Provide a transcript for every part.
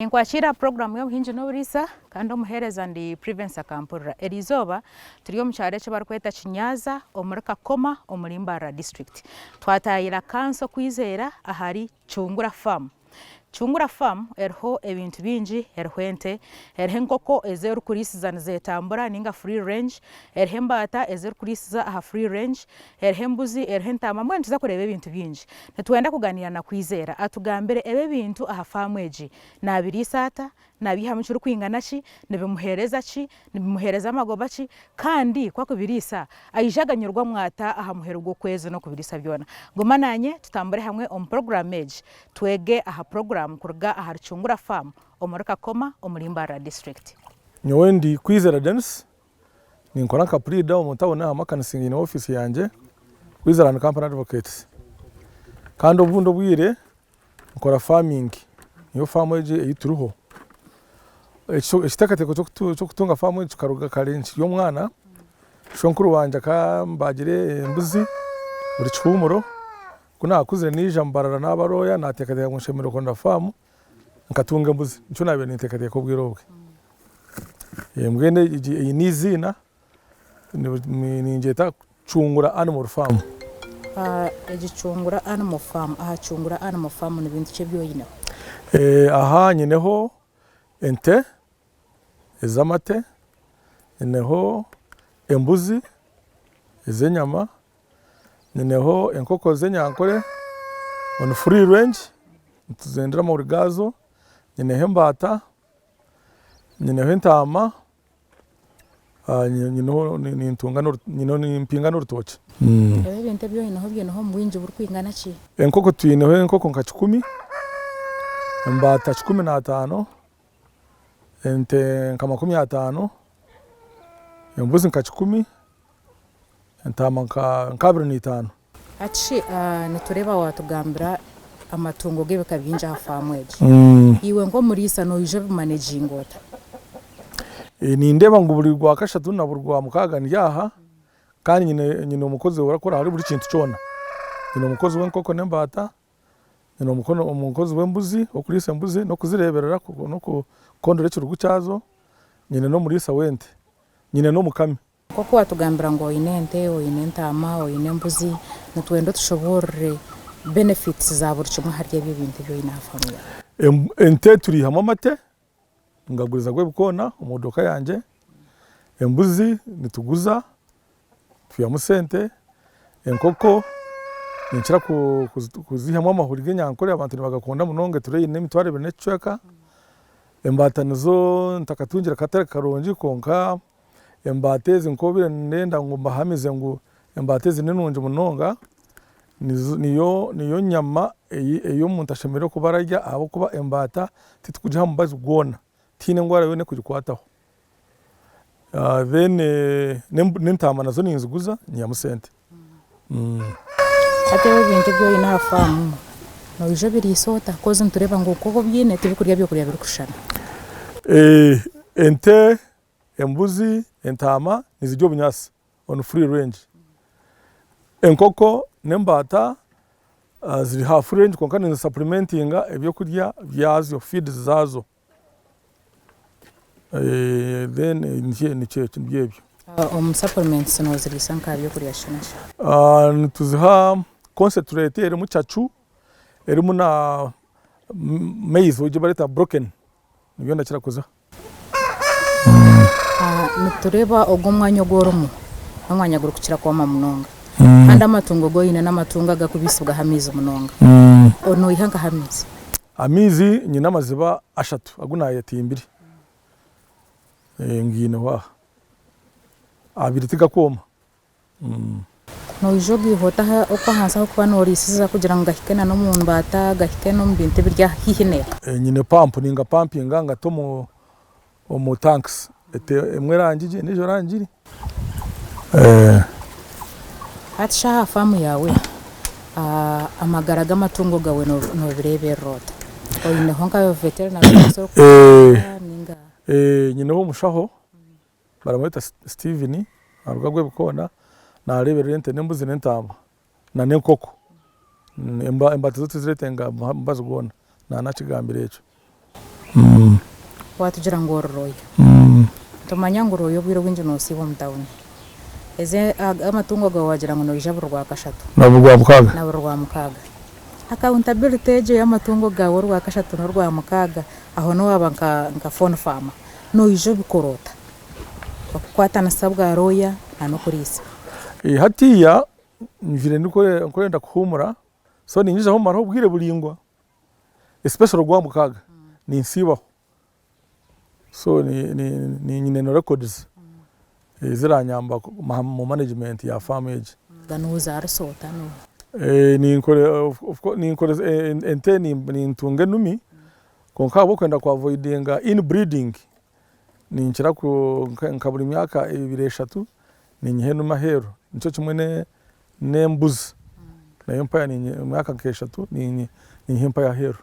Ninkwakiira aha puroguraamu y'obuhingi n'oburiisa kandi omuheereza ndi Privence Akampurira. Eri izooba turi omu kyaro eki barikweta Kinyaaza omuri Kakoma omuri Mbarara District. Twataayaire akansa okwizera ahari Chungura Farm. Chungura Farm eriho ebintu bingi, eriho ente, eriho enkoko ezi orikuriisiza nizeetambura nainga free range, eriho embaata ezi orikuriisiza aha free range, Eriho embuzi, eriho entaama, mbwenu nituza kureeba ebintu bingi. Nitwenda kuganiira na Kwizera atugambire ebi ebintu aha faamu egi. Naabiriisa ata? Naabiihamu kirikwingana ki? Nibimuheereza ki? Nibimuheereza amagoba ki? Kandi ku akubiriisa, aije aganyurwamu ata aha muheru gw'okwezi n'okubiriisa byona? Guma naanye tutambure hamwe omu puroguraamu egi twege aha puroguraamu kuruga ahari Chungura Faamu omuri Kakoma omuri Mbarara Disiturikiti. Nyowe ndi Kwizera Denis, Ninkora nka puriida omu tawuni aha makanisa nyine ofiisi yangye Switzerland Company Advocates. Kandi obundi obwire nkora faamingi, niyo faamu egi ei turiho. Ekiteekateeko ky'okutunga faamu egi kikaruga kare nkiri omwana, shonkuru wangye akambaagira embuzi buri kihuumuro, ku naakuzire naija mu barara naabarooya, naateekateeka ngu nshemereire kuronda faamu. Nkatunga embuzi, nikyo naabaire ninteekateeka obwire obwe. Embwa egi eine eiziina, ningyeta Cungura Animal Farm. Egi Cungura Animal Farm, aha Cungura Animal Farm ni bintu ki ebi oineho? Aha nyineho ente ez'amate, nyineho embuzi ez'enyama, Nineho enkoko z'enyankore on free range nituzendera amahuri gaazo, nineho embaata, nineho entaama, nineho nimpinga n'orutookye. Ebi ebintu ebi oineho obiineho omu bwingi burikwingana ki? Enkoko twineho enkoko nka kikumi, embaata kikumi na ataano. ente nka makumi ataano, embuzi nka kikumi, entaama nka abiri na itaano. Hati shi nitureeba waatugambira amatungo g'ebika bingi aha faamu egi? Iwe nk'omuriisa noija obimaneginga ota? Nindeeba ngu buri Rwakashatu na buri Rwamukaaga ndi aha kandi nyine omukozi orakora ahari buri kintu kyona. Nyine omukozi w'enkoko n'embaata. Nyine omukono omu nkozi w'embuzi, okuriisa embuzi n'okuzireeberera n'okukondora ekirugu kyazo, nyine n'omuriisa w'ente, nyine n'omukami. Nk'oku waatugambira ngu oine ente, oine entaama, oine embuzi, nitwenda otushoboorore benefits za buri kimwe ahari ebyo bintu ebi oine aha faamu yaawe. Ente turiihamu amate, Ngagurizaga ebikoona omu modoka yangye, embuzi nituguza twihamu sente, enkoko ninkira kuzihamu amahuri g'enyankore abantu nibagakunda munonga etureeyi eine emitwaro ebiri n'ekicweka, embaata nizo ntakatungire katare karungi kwonka Embaata ezi nk'obaire ndenda ngu mbahamize ngu embaata ezi ninungi munonga, niyo nyama ei omuntu ashemereire kuba ararya ahabw'okuba embaata titukugiha mubazi gwona, tihaine endwara yoona erikugikwataho. Then n'entaama nazo ninziguza nyihamu sente. Hati ebi ebintu ebi oine aha faamu noija obiriisa ota hakuba nitureeba ngu nk'obu obyine tibikurya byokurya birikushushana? Ente Embuzi, entaama nizirya obunyaatsi on free range. Enkoko n'embaata ziri ha free range kwonka nizi supplementinga ebyokurya byazo, feeds, zaazo. Then nibyo ebyo. Omu supplements noziriisa nka byokurya ki na ki? Nituziha concentrate erimu cacu, erimu na maize ogu barikweeta broken, nibyo ndakira kuziha. Nitureeba ogu omwanya ogu orimu n'omwanya gurikukira kwoma munonga, kandi amatungo agu oine n'amatungo agarikubaisibwaho amaizi munonga. Noiha nkaha amaizi? Amaizi nyine amaziba ashatu agu naayetimbire. Ngaineho aha. Abiri tigakwoma. Noija ogaiha ota oku ahansi ahu orikuba nooriisiza kugira ngu gahike n'omu mbaata, gahike n'omu bintu ebiri aha haihi newe? Nyine pampu ningapampinga ngate omu tankisi, emwe erangi gye endiijo erangi iri. Hati shi aha faamu yaawe amagara g'amatungo gaawe noobireeberera ota? Oineho nka veterinery? Nyineho omushaho. Baramweta Steven, aruga Rwebikoona, nareberera ente n'embuzi n'entaama na n'enkoko. Embata zo tiziretenga mubazi gwona, naana akigambire ekyo. Watugira ngu ori looya. Nitumanya ngu looya obwire obwingi nosiibwa omu tawuni. Eze amatungo gawe wagira ngu noija buri Rwakashatu. Na buri Rwamukaaga. Na buri Rwamukaaga. Accountability egyo y'amatungo gawe Orwakashatu n'Orwamukaaga, aho nowaba nka nka phone farmer. Noija obikora ota? Okukwatanisa bwa looya na n'okuriisa. Hatiiya njwire ndikwenda kuhuumura so ningizaho kumaraho obwire buraingwa especially Ogwamukaaga ninsiibaho so nyine na records eziranyamba mu management ya faamu egi. Nozaarisa ota ente? Nintunga enumi Kwonka ahabw'okwenda ku avoidinga inbreeding, ninkira nka buri myaka ebiri eshatu ninyiha enume aheeru. Nikyo kimwe n'embuzi, nayo mpaayo ninyiha emyaka nka eshatu ninyiha empaayo aheeru.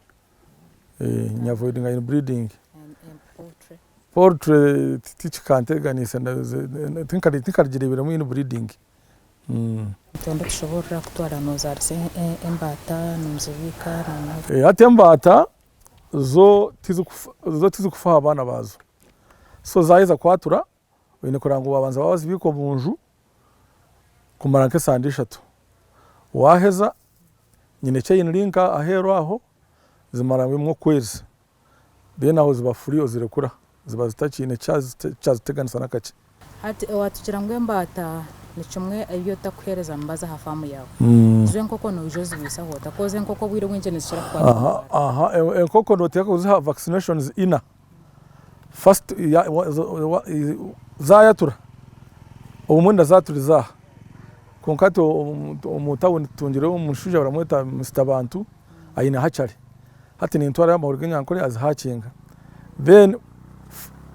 Ni avoidinga inbreeding. Poultry tikikantegyaniisa, tinkagireeberamu inbreeding. Entondo tushoboorora kutwara noozaarisa embaata nimuzibiika na. Hati embaata zo zo tizikufa aha baana baazo, so zaaheza kwatura oine kureba ngu waabanza waazibiika omu nju kumara nk'esande ishatu, waaheza nyine eki aine link aheeru aho zimara bimwe okwezi. then aho ziba free ozirekura ziba zitakiine kyaziteganisa nakakye. Hati owatukira ngu embaata nikimwe ayi otakuhereza mubazi aha faamu yaawe. Zo enkoko noija ozibaisaho ota coz enkoko obwire obwingi nizikira kukwatwa embaata. Aha enkoko noteeka kuziha vaccinations ina first zayatura obumwe ndazaturiza aha kwonka hati omu town tutungireyo omushaija baramweta Mister Bantu aine hatchery Hati nintwarayo amahuri g'enyankore azi hakinga. Then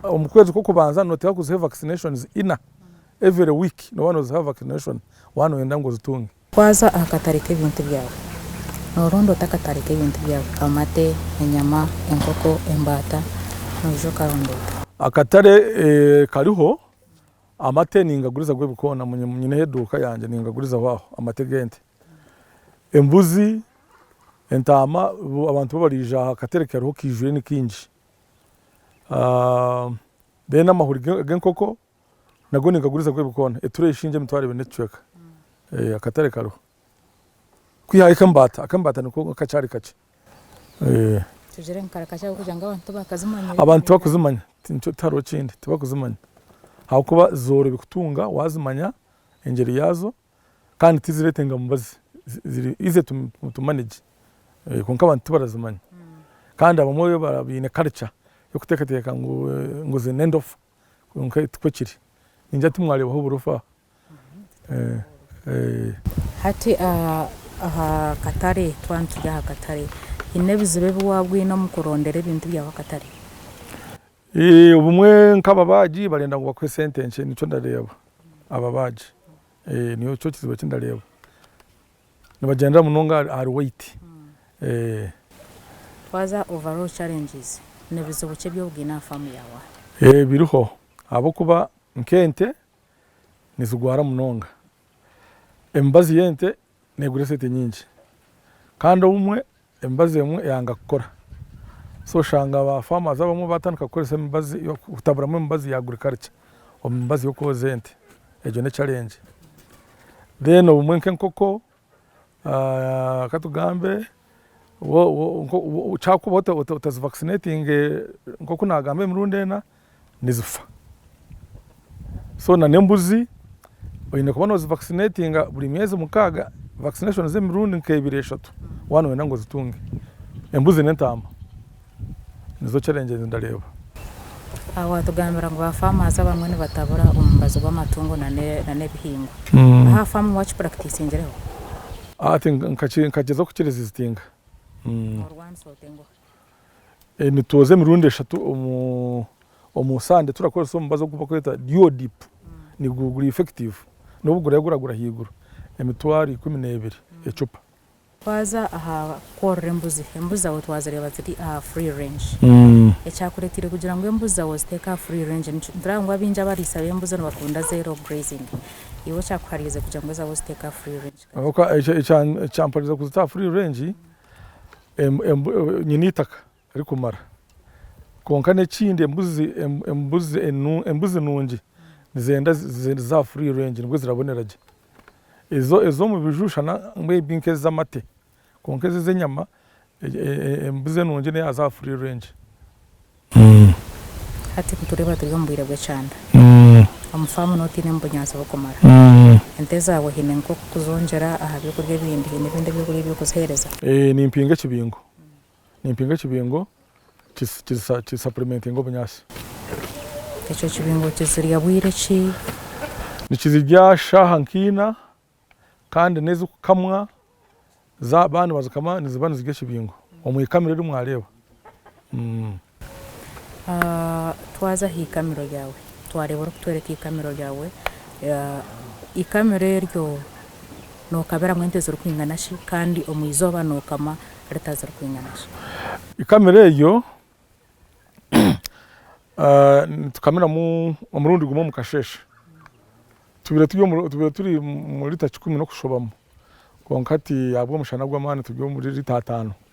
omu kwezi kwokubanza noteeka kuziha vaccinations ina. Every week noba noziha vaccination waba noyenda ngu ozitunge. Waza aha katare k'ebintu byawe, noronda ota akatare k'ebintu byawe, amate, enyama, enkoko, embaata, noija okaronda ota. Akatare kariho, amate ningaguriza gwe ebikoona, nyineho eduuka yangye ningagurizaho aho, amate g'ente. Embuzi, entaama, abantu bo baraija aha katare kariho kaijwire ni kaingi. Then amahuri g'enkoko nago ninkaguriza nk'oku biri koona, etureyi esingye emitwaro ebiri n'ekicweka. Akatare kariho. Kwihaho ak'embaata, ak'embaata niko akakyari kakye. Tugire ngu kare kakye ahabw'okugira ngu abantu tibakazimanya. Abantu tibakuzimanya, nikyo tihariho kindi, tibakuzimanya ahabw'okuba zoorobi kutunga waazimanya engyeri yaazo. kandi tiziretenga mubazi ziri easy to manage kwonka abantu tibarazimanya kandi abamwe baine culture yokutekateka ngu zine endofa kwonka tikwo kiri ningira ngu timwarebaho oburofa. Hati ahakatare twaba nituri ahakatare, hine ebizibu ebi waba oyine omu kurondera ebintu byawe ahakatare? Obumwe nk'ababaagi barenda ngu bakuhe sente nkye nikyo ndareeba, ababaagi nikyo kizibu eki ndareeba, nibagyendera munonga ahari weight. Twaza overall challenges, nebizibu ki ebi oine aha faamu yaawe? Biriho ahabw'okuba nk'ente nizigwara munonga, emibazi y'ente Negura esente nyingi Kandi obumwe emibazi emwe eyanga kukora so oshanga ba farmers abamwe batandika kukoresa emibazi kutaburamu emibazi ya agriculture omu mibazi yokwoza ente egyo ne challenge then obumwe nkenkoko katugambe kyakuba otazi vaccinatinge nkoku nagamba emirundi ena nizifa, so na n'embuzi oyine kuba nozi vaccinatinga buri myezi mukaaga, vaccination z'emirundi nk'ebiri eshatu waba noyenda ngu ozitunge, embuzi n'entaama. Nizo challenge ezi ndareeba. Aha waatugambira ngu ba farmers abamwe nibatabura omubazi gw'amatungo na n'ebihingwa. Aha farm wakipuractisingireho? Hati nkagyezaho ku kiresizitinga. Norwanisa ota enguha? Nitwoza emirundi eshatu omu sande turakoresa omubazi ogu barikweta Duodip. Nigwo guri effective. N'obu guraabe guragura ahaiguru emitwaro ikumi n'ebiri ecupa. Twaza aha kworora embuzi, embuzi zaawe twazireeba ziri aha free range. Ekyakureeteire kugira ngu embuzi zaawe oziteeke aha free range niki? Nitureba ngu abaingi abariisa b'embuzi nibakunda zero grazing. Iwe ekyakuhariize kugira ngu ezaawe oziteeke aha free range ka ki? Ekyampariize kuzita aha free range, nyine eitaka rikumara. Kwonka n'ekindi embuzi embuzi embuzi nungi nizenda za free range nibwo zirabonera gye. Ezo ez'omu biju shana may be nk'ez'amate kwonka ezi ez'enyama embuzi enungi neya za free range. Hati ku tureeba turi omu bwire bw'ekyanda, omu faamu n'oba otainemu bunyaatsi burikumara, ente zaawe haine nk'okuzongyera aha byokurya ebindi? Haine ebindi ebyokurya ebi orikuziheereza? Ee, nimpinga ekibingo. Nimpinga ekibingo kisapulimentinga obunyaatsi. Ekyo kibingo kizirya bwire ki? Nikizirya shaaha nk'ina kandi n'ezikukamwa zaaba nibazikama niziba nizirya ekibingo omu ikamiro eri mwareeba. Twaza aha ikamiro ryawe twareeba orikutworeka ikamiro ryawe, ikamiro eryo nokabiramu ente zirikwingana shi kandi omu izooba nokama lita zirikwingana shi? Ikamiro eryo nitukamiramu omurundi gumwe omu kasheeshe, tubaire turi omu lita kikumi n'okushobomu kwonka hati ahabw'omushana gw'amaani turi omuri lita ataano.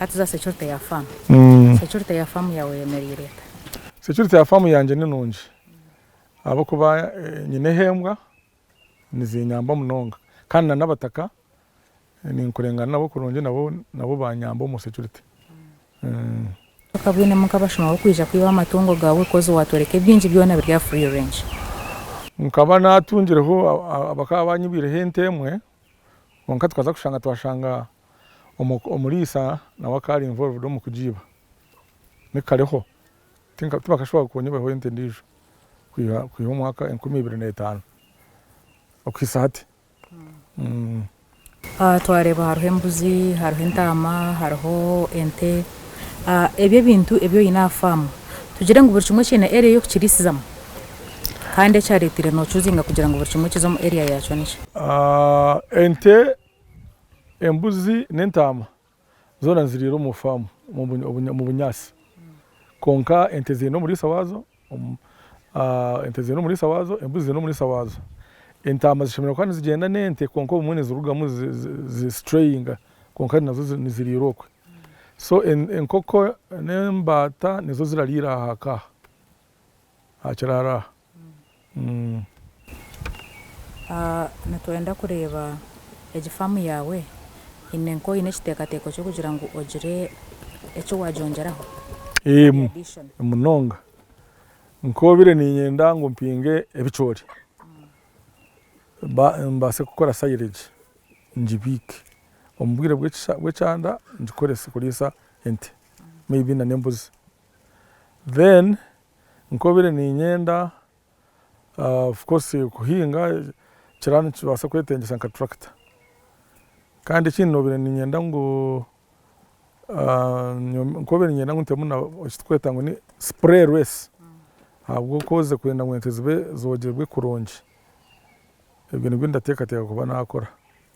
Hati za securite ya farm. Securite ya farm yawe eyemereire eta? Securite ya farm yangye ni nungi ahabw'okuba nyineho embwa nizinyamba munonga kandi na n'abataka ninkurengana nabo kurungi nabo nabo banyamba omu securite. Okaba oinemu nk'abashuma b'okwija kwiba amatungo gaawe coz watworeka ebingi byona biri aha free range. Nkaba natungireho abakaba banyibwireho ente emwe. Kwonka tukaza kushanga twashanga omuriisa nawe akaba ari involved omu kugiiba. Ni kareho, tibakashuba kunyeihaho ente endiijo kwiha omwaka enkumi ibiri n'etaano okuhitsya hati. Twareeba hariho embuzi, hariho entaama, hariho ente, ebyo ebintu ebi oine aha faamu, tugire ngu buri kimwe kiine area ey'okukiriisizamu. Kandi ekyaretire nocuzinga kugira ngu buri kimwe kize omu area yakyo niki? Ente, embuzi n'entaama zoona niziriira omu faamu omu bunyaatsi kwonka ente ziine omuriisa waazo, ente ziine omuriisa waazo, embuzi ziine omuriisa waazo, entaama zishemereire kuba nizigyenda n'ente kwonka obumwe nizirugamu zi strayinga kwonka nazo niziriira okwe so enkoko n'embaata nizo zirariira aha ka. aha kiraaro aha. Nitwenda kureeba egi faamu yaawe, haine nka oine ekiteekateeko ky'okugira ngu ogire eki waagyongyeraho? Eeh munonga, nk'obiire niinyenda ngu mpinge ebicoori, mbaase kukora silage ngibiike, omu bwire bw'ekyanda ngikorese kuriisa ente, may be n'embuzi. then nkobire ninyenda of course kuhinga ekiraaro nikibaasa kwetengyesa nka tractor kandi ekindi nobire ninyenda ngu nkobire ninyenda ngu ntemu na ekiturikweta ngu ni spray race ahabw'oku orikwenda ngu ente zibe zogyerwe kurungi ebyo nibyo ndateekateeka kuba nakora.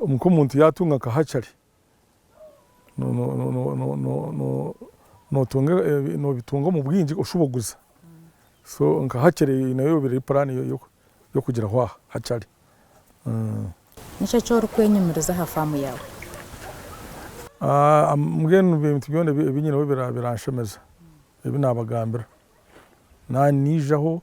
Nk'omuntu yaatunga nka hatchery, noobitunga omu bwingi oshuba oguza, so nka hatchery nayo ebaire eri puraani y'okugiraho aha hatchery. Niki eki orikwenyumiriza aha faamu yaawe? Mbwenu nibyo bintu byona ebi nyineho biranshemeza, ebi naabagambira. Naaba niijaho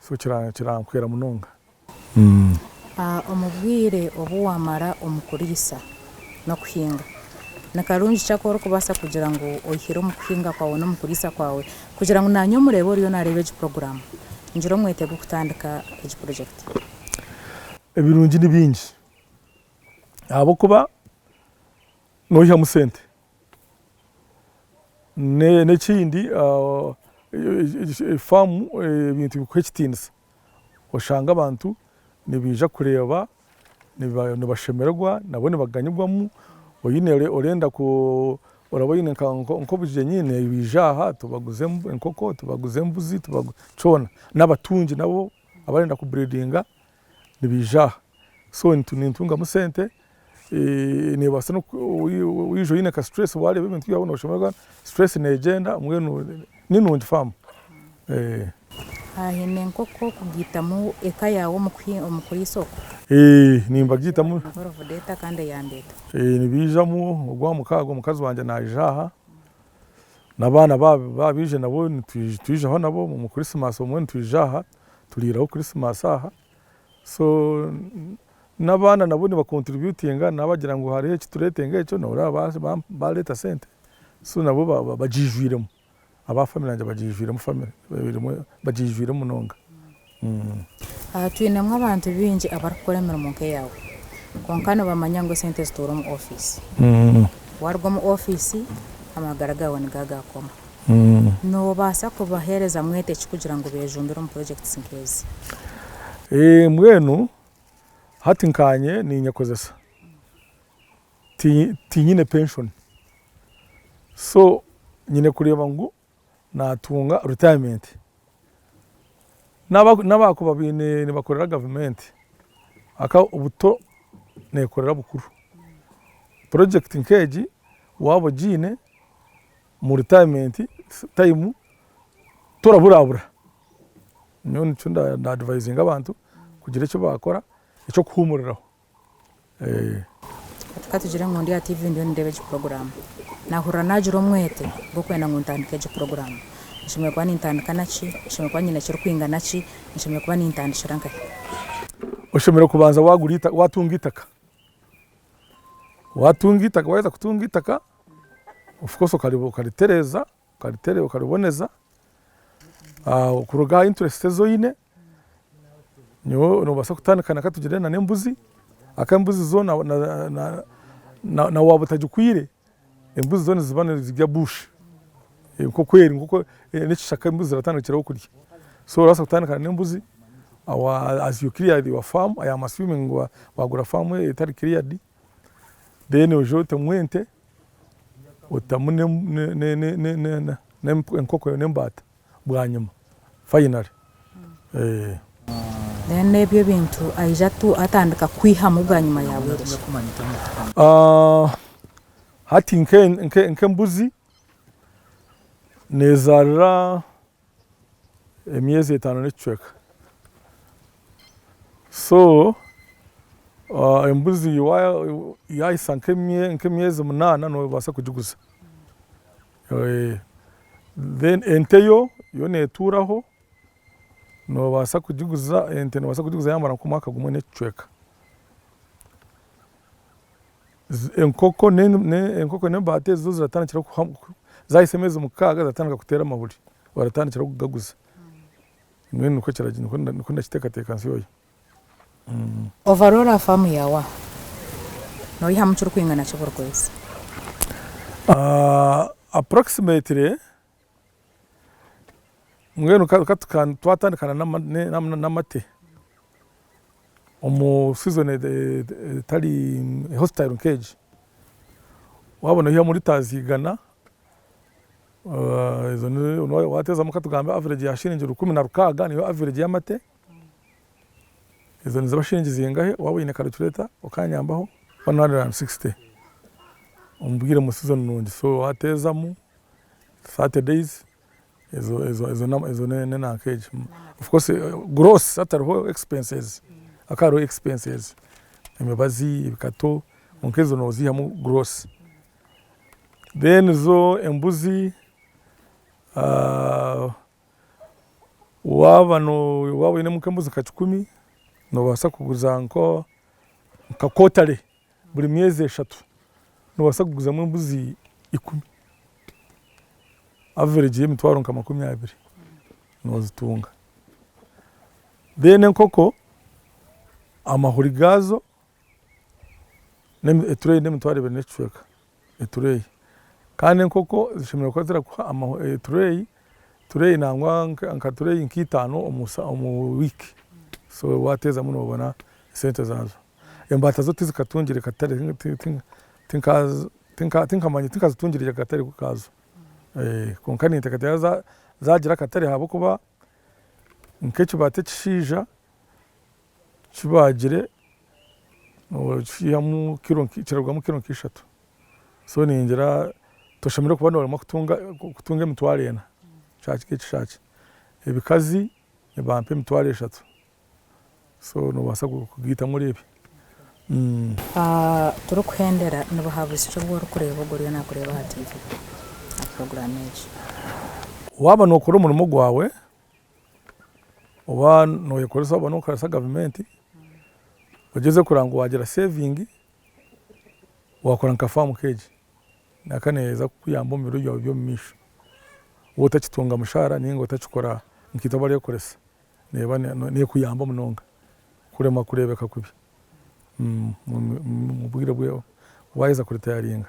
so kirankwera munonga. Omu bwire obu waamara omu kuriisa n'okuhinga, ni karungi ki aku orikubaasa kugira ngu oihire omu kuhinga kwawe n'omu kuriisa kwawe? Kugira ngu naanye omureebe oriyo naareeba egi puroguraamu, ngire omwete gw'okutandika egi purojekiti. Ebirungi ni bingi ahabw'okuba nooihamu sente. N'ekindi faamu ebintu bikuha ekitiinisa, oshanga abantu nibaija kureeba, nibashemererwa nabo nibaganyirwamu, oine orenda ku oraba oine nk'obugyenyi nibaija aha tubaguze enkoko, tubaguze embuzi, kyona, n'abatungi nabo abarenda ku buriidinga nibaija aha, so nintungamu sente, neebaasa waija oine ka stress waareeba ebintu byawe nooshemererwa stress neegyenda mbwenu ni nungi faamu. Haine enkoko kugiitamu eka yaawe omu kuriisa okwo? Nimbagiitamu. Nibaija ogw'aha mukaaga omukazi wangye naija aha N'abaana baabo baaba baija nabo nitwijaho nabo omu Christmas obumwe nitwija aha turiiraho Christmas aha. So n'abaana nabo niba contributinga nabo baagira ngu hariho eki turetenga ekyo nabo baareeba baareeta sente so nabo bagiijwiremu, aba family yangye bagiijwiremu family bagiijwiremu munonga. Aha twinemu abantu baingi abarikukora emirimo nk'eyaawe kwonka nibamanya ngu esente zituura omu ofiisi. Waaruga omu ofiisi, amagara gaawe niga gaakoma. Noobaasa kubaheereza mwete ki kugira ngu beejumbire omu purojekiti nk'ezi? Mbwenu hati nkaanye ninyekozesa, tinyine penshoni so nyine kureeba ngu naatunga retirement, n'aba n'abaakuba baine nibakorera gavumenti aka buto neekorera bukuru, project nk'egi waaba ogiine mu retirement time toraburabura, nyowe nikyo nda advisinga abantu kugira eki baakora eky'okuhuumuriraho. Katugire ngu ndi aha tiivi ndiyo nindeeba egi puroguraamu. Naahurira naagira omwete gw'okwenda ngu ntandike egi puroguraamu. Nshemereire kuba nintandika na ki? Nshemereire kuba nyine ekirikwingana ki? Nshemereire kuba nintandikira nka hi? Oshemereire kubanza waagura, waatunga eitaka. Waatunga eitaka, waaheza kutunga eitaka, of course okaritereeza, okariboneza. Kuruga aha interesiti ezi oine, Nyowe nobaasa kutandika na katugire na n'embuzi, ahakuba embuzi zo na waaba otagikwaire, embuzi zo niziba nizirya bush, nk'oku eri, n'ekishaka embuzi embuzi ziratandikiraho kurya, so orabaasa kutandika na n'embuzi, as you clear your farm, I am assuming ngu wagura farm etari cleared, then oije otemu ente, otemu n'embaata. bwanyima finally eeh. Then ebyo ebintu aija atu atandika kwihamu bwanyima ya bwereki. Aah hati nke nke nke mbuzi nezarira emyezi etano nekicweka so aah embuzi waya yahisa nke emyezi munana nobasa kugiguza. Then ente yo yo netuuraho nobaasa kugiguza ente nobaasa kugiguza yamara nkomwaka gumwe nekicweka. Enkoko enkoko nembaata ezo ziratandikira zahitsya emyezi mukaaga ziratandika kuteera amahuri oratandikira kugaguza mbwenu nikwo nikwo ndakiteekateeka nsyohya. Overall ha faamu yaawe aho noyihamu kirikwingana ki buri kwezi? Approximately, mbwenu twatandika n'amate, omu season etari hostile nk'egi, waaba noyihamu litres igana, waaba wateezamu katugambe average ya shiringi rukumi na rukaaga niyo average y'amate. Ezo niziba shiringi zingahe? Waaba oine karicureeta okanyambaho. One hundred and sixty omu bwire omu season nungi so wateezamu thirty days ezo ezo ezo na ezo ne nenanka egyo. Of course gross hatariho expenses haka hariho expenses, emibazi, ebikato, kwonka ezo noziihamu gross. Then zo embuzi waaba oine embuzi nka kikumi, nobaasa kuguza nka kotare buri myeezi eshatu nobaasa kuguzamu embuzi ikumi, averegi y'emitwaaro nka makumi abiri nozitunga, then enkoko amahuri gaazo etureeyi n'emitwaaro ebiri n'ekicweeka. etureeyi kandi enkoko zishemereire kuba zirakuha etureeyi tureeyi nangwa nka tureeyi nka itaano omu wiiki so wateezamu nobona esente zaazo. Embaata zo tizikatungire katare tinkamanya tinkazitungire akatare kaazo kwonka ninteekateeka zaagira akatare ahabw'okuba nk'ekibaata ekishaija kibaagire nokihamu kiro kirarugamu kiro nka ishatu so ningira toshemereire kuba noremwa kutunga emitwaro ena kishaaha kigye kishaaha kigye ebikazi nibampa emitwaro eshatu so nobaasa kugaitamu oreebye. Turikuhendera ni buhabuzi ki obu orikureeba ogu oriyo nakureeba aha tiivi aha puroguraamu egi? Waaba nokora omurimo gwawe oba noyekoresa oba nokoresa gavumenti ogyeze kureba ngu wagira sevingi wakora nka faamu nk'egi naka neyeza kukuyamba omu biro byawe byomumaisho waaba otakitunga mushaara ninga otakikora nkaitwe abarikukoresa neeba nekuyamba munonga kuremwa kureebeka kubi omu bwiire bwokuba waheza kuritayaringa.